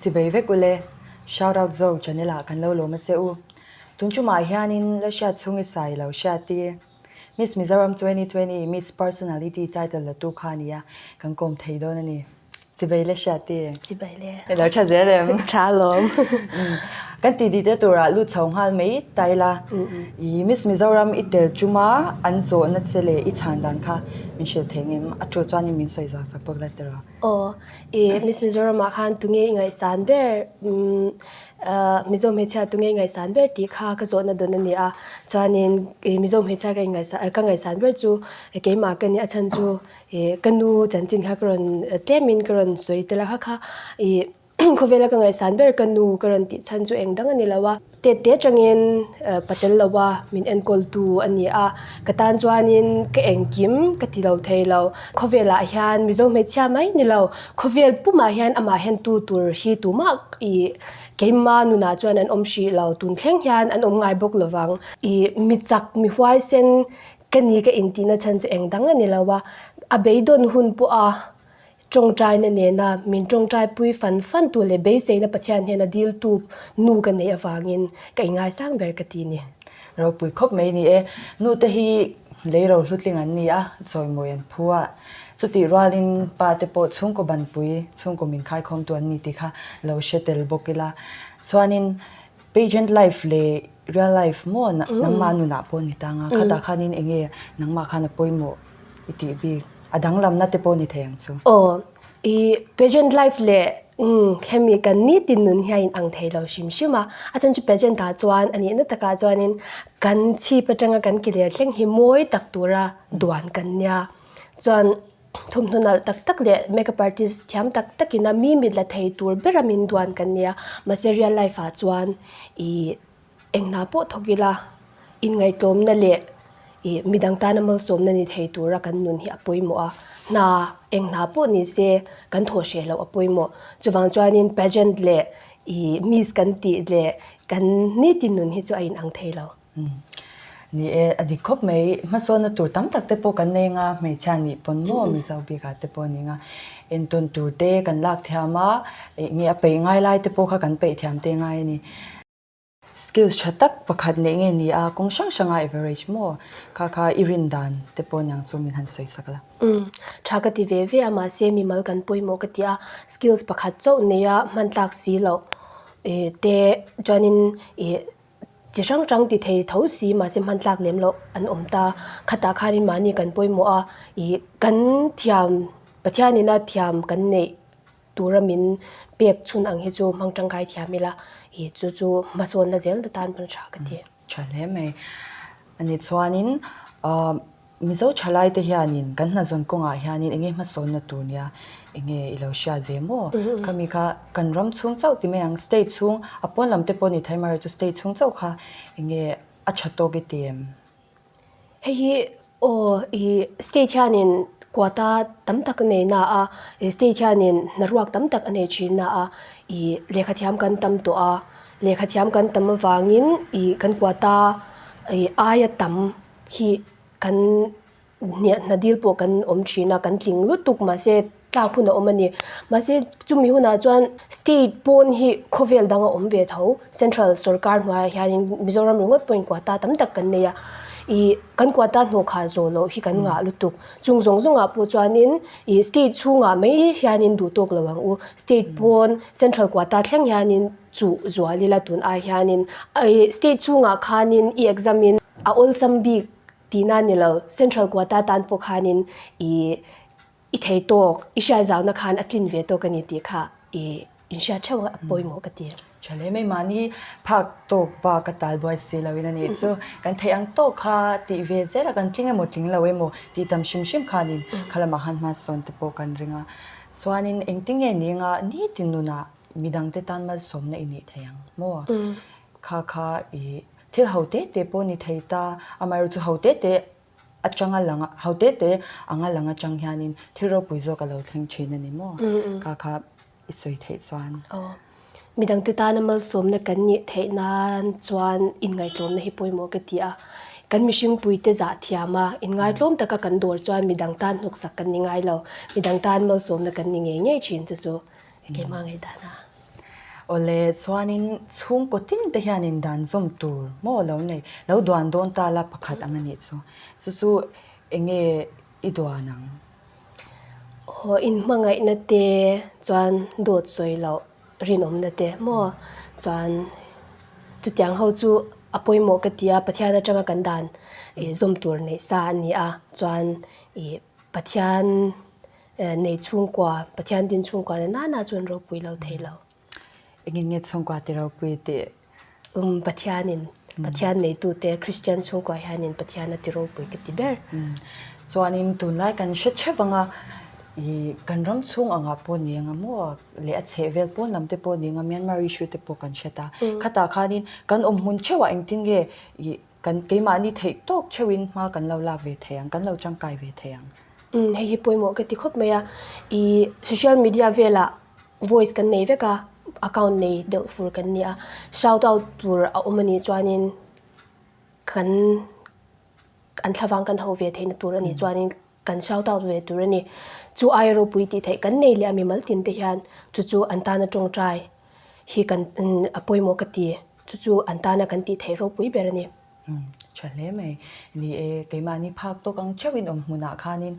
Chibei vek u le. Shout out zo channel ah kan lo lawma che u. Tun chu mah hian in la hriat chhung i sai lo hriat ti e. Miss Mizoram twenty twenty Miss Personality title la tu kha a ni a, kan kawm thei dawn a ni. Chibei le hria ti. Chibei le. E lo tha zel em. Tha lawm. Kan ti dite tura lut chho nghal mai ta ila. I Miss Mizoram i tel tuma an zawhna che leh i chhan dan kha min hrilh thei ngem. A thu chuanin min sawi zau sak bawk la tiraw. Aw, i Miss Mizoram ah khan tunge i ngaihsan ber Mizo hmeichhia tunge i ngaihsan ber tih kha ka zawhna dawn a ni a. Chuanin i Mizo hmeichhia ka ngaihsan ber chu keimah ka nih a chhan chu. I ka nu chanchin kha ka rawn tlem in ka rawn sawi tel a kha kha i khawvel a ka ngaihsan ber ka nu ka rawn tih chhan chu eng dang a ni lo a tet te tang in pa tel lo a min enkawl tu a ni a ka tan chuan in ka engkim ka ti lo thei lo khawvel ah hian mizo hmeichhia mai ni lo khawvel pum ah hian amah hian tu tur hi tu mah i keima nun ah chuan an awm hrih lo tun thleng hian an awm ngai bawk lo vang i mi chak mi huaisen Ka ni ka intihna chhan chu engdang a ni lo a, a beidawn hun pawha tawngtaina nena min tawngtai pui fan fan tu leh beiseina Pathian hnena diltu nu ka neih avangin ka ingaisang ber ka ti ni. Ropui khawp mai ni e, nute hi lei ro hlutling an ni a, chawimawi an phu a, chutih rualin pate pawh chhungkaw banpui, chhungkaw min khaikhawmtu an ni tih kha lo hre tel bawk ila chuanin, Pageant life leh real life maw nangma a nunah pawh ni tang a, khatah khanin enge nangma khan a pawimawh i tih bik a danglamna te pawh ni thei ang chu. Aw, i pageant life leh hemi kan nitin nun hi a inang thei lo hrim hrim a, a then chu pageant ah chuan a nihna takah chuanin kan chhip atanga kan kelir thleng hi mawi tak tura duan kan nia chuan Thawmhnaw nalh tak tak leh makeup artist thiam tak tak ina mi mit la thei tur bera min duan kan nia mahse real life ah chuan ih eng hna pawh thawk ila in ngaitlawm na leh ih mi dang tana malsawm na ni thei tura kan nun hi a pawimawh a hna eng hna pawh ni se kan thawh hreh loh a pawimawh chuvang chuanin pageant leh ih miss kan tih leh kan niti nun hi chu a in ang thei lo. Ni e, a dik khawp mai. Hmasawnna tur tam tak te pawh kan nei ang a, hmeichhia nih pawn maw, mizo bik ah te pawh ni ang a. Entawn tur te kan lak thiam a, eh nge a peih ngai lai te pawh kha kan peih thiam te ngai a ni. Skills tha tak pakhat neih nge ni a, kawng hrang hrang a average maw kha kha i rin dan te pawh niang chu min han sawi sak la. Umm, tha ka ti ve ve a, mahse mimal kan pawimawh ka ti a, skills pakhat chauh neih a hmantlak si loh eh te chuan in eh. Chi hrang hrang ti thei tho si mahse hmantlak lem loh an awm ta. Khatah khanin mahni kan pawimawh a, ih kan thiam, Pathianina thiam kan neih tura min pek chhun ang hi chu hmang tangkai thiam ila, ih chu chu hmasawnna zel na tan hman tha ka ti. Tha hle mai. Ani chuanin Mizo tha lai te hianin kan hnazawn kawngah hianin enge hmasawnna tur nia enge i lo hriat ve maw? Khami kha kan ram chhung chauh ti mai ang, state chhung a pawn lam te pawh a ni Thaimara hi chu state chhung chauh kha enge a tha tawk i ti em? Hei hi aw i state hianin quota tam tak a nei na a, i state hianin hnaruak tam tak a nei thin na a, i lehkha thiam kan tam tawh a, lehkha thiam kan tam avangin i kan quota i aia tam hi kan hniahna dil pawh kan awm thin a kan tling lutuk mahse tlak hun a awm a ni mahse chumi hunah chuan state pawn hi khawvel dang a awm ve tho central sawrkar hnuaiah hianin mizoram ringawt pawhin quota tam tak kan nei a ih kan quota hnawhkhah zawh loh hi kan ngah lutuk chung zawng zawng ah pawh chuanin ih state chhungah mai hianin duh tawk lo ang u state pawn central quota thleng hianin-- chu Zualila tun ah hianin i state chhungah khanin i exam in a awlsam bik tih na ni lo, central quota tan pawh khanin i i thei tawk i hriat zau na khan a tlin ve tawk a ni tih kha i in hriat theuh a a pawimawh ka ti. Tha hle mai mahni phak tawk pa ka tal buai si lo in a nih chu kan theih ang tawk kha tih ve zel a kan tling emaw tling lo emaw tih tam hrim hrim khanin khalamah han hmansawn te pawh kan ring a chuanin engtin nge ni anga nitin nunah midangte tan malsawmna i nih thei ang maw? Kha kha i thil ho te te pawh ni thei ta, amaherawh chu ho te te atang a lang a, ho te te ang a lang atang hianin thil ropui zawk a lo thleng thin a ni maw? Kha kha i sawi theih chuan. Aw, midangte tana malsawmna kan nih theih nan chuan inngaihtlawmna hi pawimawh ka ti a. Kan mihringpuite zahthiama inngaihtlawm taka kan dawr chuan midang tan hnawksak kan ni ngai lo, midang tan malsawmna kan ni ngei ngei thin che chu. Keimah ngaih dan a. Awle chuanin chhungkaw tin te hian in dan zawm tur maw a lo nei? Lo duan dawn ta la pakhat ang a nih chu. Chu chu enge i duan ang? Aw, in hmangaihna te chuan dawt sawi loh rinawmna te maw? Chuan chutiang ho chu a pawimawh ka ti a, Pathian atanga kan dan zawm tur neih sa a ni a. Chuan Pathian. Nei chhungkua, Pathian din chhungkua na nana chuan ropui lo thei lo. Engin nge chhungkua ti ropui tih? Um, Pathianin, Pathian neitute Kristian chhungkua hianin Pathian a ti ropui ka ti ber. Chuanin tunlai kan hre thep ang a, i kan ram chhung angah pawh ni ang a maw, leh a chheh vel pawn lam te pawh ni ang a, Myanmar issue te pawh kan hre ta. Khatah khanin kan awm hmun theuhah engtin nge i. Kan keimahni theih tawk theuhin hma kan lo lak ve thei ang, kan lo tangkai ve thei ang. Umm, hei hi pawimawh ka ti khawp mai a. I social media velah voice kan nei vek a, account nei deuh fur kan ni a, shout out tur a awm a nih chuanin kan an thlavang kan ho ve theihna tur a nih chuanin kan shout out ve tur a ni. Chu ai ropui tih theih kan nei leh a mimal tin te hian chu chu an tana tawngtai hi kan a pawimawh ka ti chu chu an tana kan tih theih ropui ber a ni. Umm tha hle mai ni e, keimahni phak tawk ang theuh in awm hmunah khanin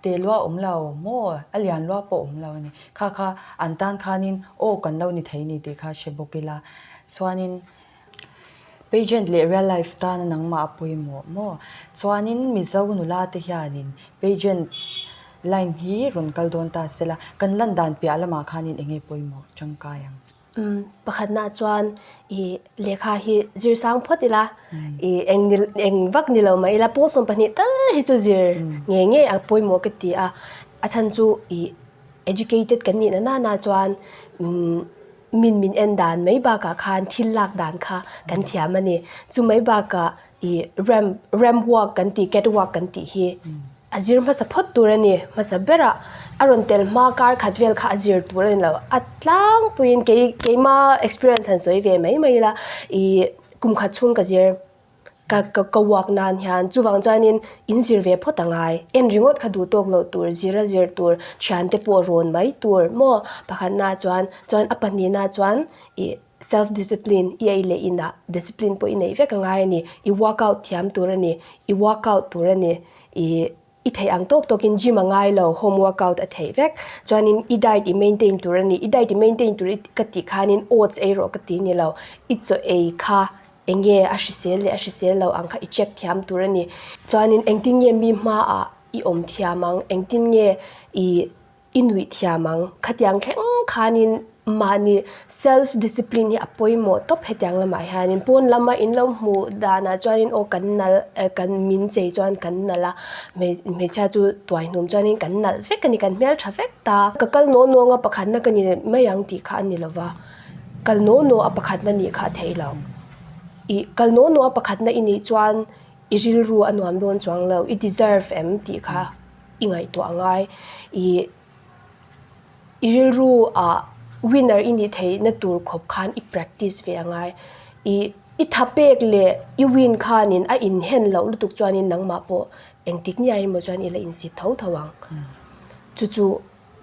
te lua awm lo maw a lian lua pawh awm lo a ni kha kha an tan khanin aw kan lo ni thei a ni tih kha hre bawk ila chuanin Pageant leh real life tana nangmah a pawimawh maw? Chuanin Mizo nula te hianin Pageant line hi rawn kal dawn ta sela, kan lan dan piah lamah khanin enge pawimawh tangkai ang? Pakhatnaah chuan i lehkha hi zir sang phawt ila, i eng ni eng vak ni lo mah ila pawl sawm pahnih tal hi chu zir ngei ngei a pawimawh ka ti a. A chhan chu i educated kan nihna nana chuan, min min en dan mai bakah khan thil lak dan kha kan thiam a ni. Chu mai bakah i ramp, ramp walk kan tih, cat walk kan tih hi a zir hmasa phawt tur a ni. Hmasa bera a rawn tel hma kar khat vel kha a zir tur a ni lo. A tlangpuiin kei, keima experience han sawi ve mai mai ila i kum khat chhung ka zir. Ka ka uak nan hian chuvang chuanin in zir ve phawt a ngai. En ringawt kha duh tawk loh tur, zir a zir tur, thian te pawh rawn mai tur maw? Pakhat na chuan, chuan a pahnih na chuan i self discipline i ei leh i na discipline pawh i neih vek a ngai a ni. I workout thiam tur a ni, i workout tur a ni, i I theih ang tawk tawk in gym a ngai lo, home workout a theih vek. Chuan in i diet i maintain tur a ni, i diet i maintain tur ka tih khan in oats ei rawh ka ti ni lo. I chaw ei kha eng nge a hrisel leh a hrisel lo ang kha i check thiam tur a ni. Chuan in engtin nge mi hma ah i awm thiam ang, engtin nge i I nuih thiam ang. Khatiang thleng khanin mahni self discipline hi a pawimawh tawp hetiang lamah hianin pawn lama in lo hmuh danah chuanin aw kan nalh eh kan min chei chuan kan nalh a hmei hmeichhia chu tuaihnum chuanin kan nalh vek a ni kan hmel tha vek ta. Ka kal naw nawng a pakhatna ka ni mai ang tih kha a ni lova kal naw naw a pakhatna nih kha a theih lo i kal naw naw a pakhatna i nih chuan i rilru a nuam dawn chuang lo i deserve em tih kha. i ngaihtuah a ngai ih i rilru ah winner i nih theih na tur khawp khan i practice ve a ngai ih i tha pek leh i win khan in a in hen loh lutuk chuan in nangmah pawh engtik nge a ri maw chuan i la in sit tho tho ang chu chu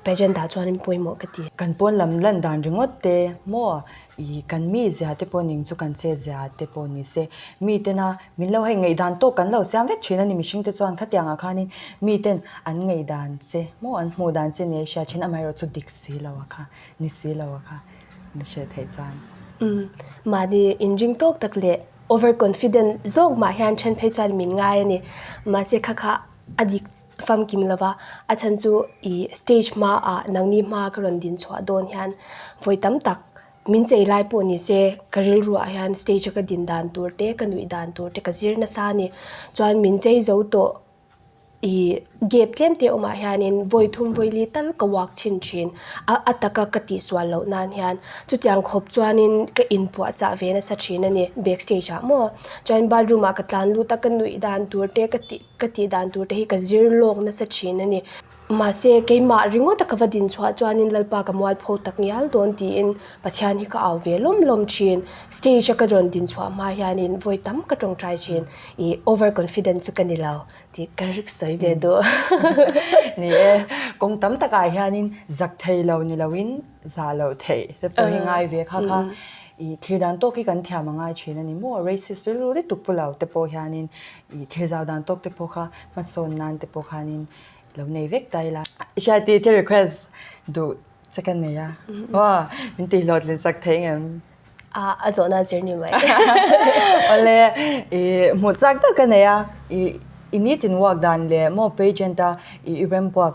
Pageant ah chuan in pawimawh ka ti. Kan pawn lam lan dan ringawt te maw i kan mi zia te pawh ning chu kan che zia te pawh ni se mi tena min lo hei ngaih dan tawk kan lo siam vek thin a ni mihring te chuan khatiang ah khan in mi ten an ngaih dan che maw an hmuh dan che nia i hria thin amaherawh chu dik si lo a kha ni si lo a kha ni hre thei chuan umm mahni in ring tawk tak leh over confident zawk mah hian then phei chuan min ngai a ni mahse kha kha a dik famkim lova a chhan chu i stage hmaah nangni hmaa ka rawn din chhuah dawn hian vawi tam tak min chei lai pawh ni se ka rilru ah hian stage a ka din dan tur te ka nuih dan tur te ka zir nasa a ni chuan min chei zo tawh i gap tlem te awm ah hian in vawi thum vawi li tal ka uak chhin thin a a taka ka tih sual loh nan hian chutiang khawp chuan in ka in puah chah ve nasa thin a ni back stage ah maw chuan bathroom ah ka tlan lut a ka nuih dan tur te ka tih Ka tih dan tur te hi ka zir lawk nasa thin a ni. Mahse, keimah ringawta ka va din chhuah chuanin Lalpa ka mual pho tak ngial dawn tiin Pathian hi ka au ve lawm lawm thin. Stage a ka rawn din chhuah hma hianin vawi tam ka tawngtai thin. I over confident chu ka ni lo tih ka rik sawi ve duh. Ni e, kawng tam takah hianin zak thei lo ni loin Zah loh theih te pawh hi ngai ve kha kha. I thlir dan tawk hi kan thiam a ngai thin a ni maw? Racist rilru ri tuk pu lo te pawh hianin i thlir zau dan tawk te pawh kha hmasawn nan te pawh khanin i lo nei vek ta ila. I hria ti thil request duh che ka nei a. Maw? Min tih hlawh tlin sak theih ngem? A a zawh nan zir ni mai. Awle i hmuh chak tak ka nei a. I i nitin uak dan leh maw pageant a i i rembuak.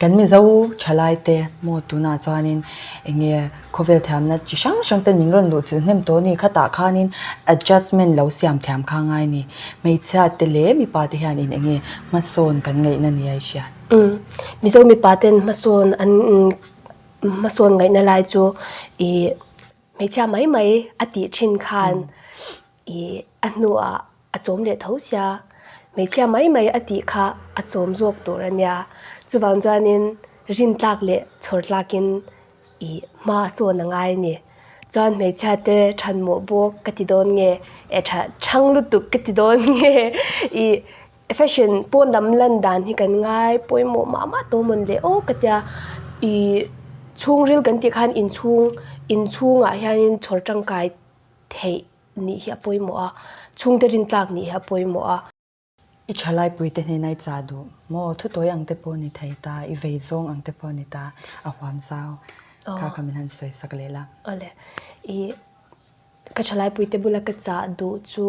Kan mizo tha laite maw tunah chuanin enge khawvel thiamna chi hrang hrangte min rawn luh chilh hnem tawh a ni. Khatah khanin adjustment lo siam thiam kha a ngai a ni. Hmeichhia te leh mipa te hian in enge hmasawn kan ngaihna a ni a i hriat. Mizo mipa ten hmasawn an hmasawn ngaihna lai chu i. Hmeichhia mai mai a tih thin khan i a hnuah a chawm leh tho sia. Hmeichhia mai mai a tih kha a chawm zawk tur a nia. Chuvang chuanin rin tlak leh chhawr tlakin i hma a sawn a ngai a ni. Chuan hmeichhia te chhan mawh bawk ka ti dawn nge, e chhang lutuk ka ti dawn nge i. Fashion pawn lam lan dan hi kan ngai pawimawh mah mah tawhmawn leh awk ka tia i chhungril kan tih khan inchhung inchhungah hianin chhawr tangkai theih nih hi a pawimawh a chhungte rintlak nih hi a pawimawh a. I tha laipuite hnena i chah duh maw, thutuai ang te pawh ni thei ta, i vei zawng ang te pawh ni ta, a huam zau kha kha min han sawisak leh la. Awle i. Ka thalaipuite bula ka chah duh chu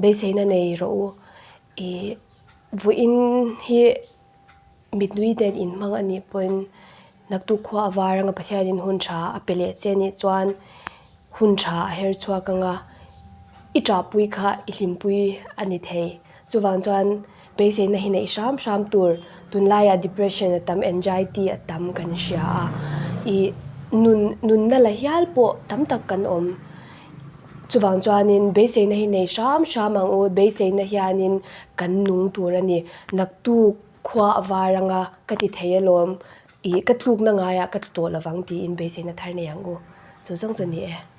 beiseina nei rawh u. Ih vuihin hi mitnui nen inhmang a nih pawhin naktuk khua a var anga Pathianin hun tha a pe leh che nih chuan hun tha a her chhuak anga i ṭahpui kha i hlimpui a ni thei. Chuvang chuan. Beiseina hi neih hram hram tur, tunlaiah depression a tam, anxiety a tam kan hria a, ih nun nunna la hial pawh tam tak kan awm. Chuvang chuanin beiseina hi nei hram hram ang u, beiseina hianin kan nung tur a ni. Naktu khua a var anga ka ti thei alawm, ih ka tlukna ngaiah ka tlu tawh lovang tiin beiseina thar nei ang u, chu zawng chu a ni e.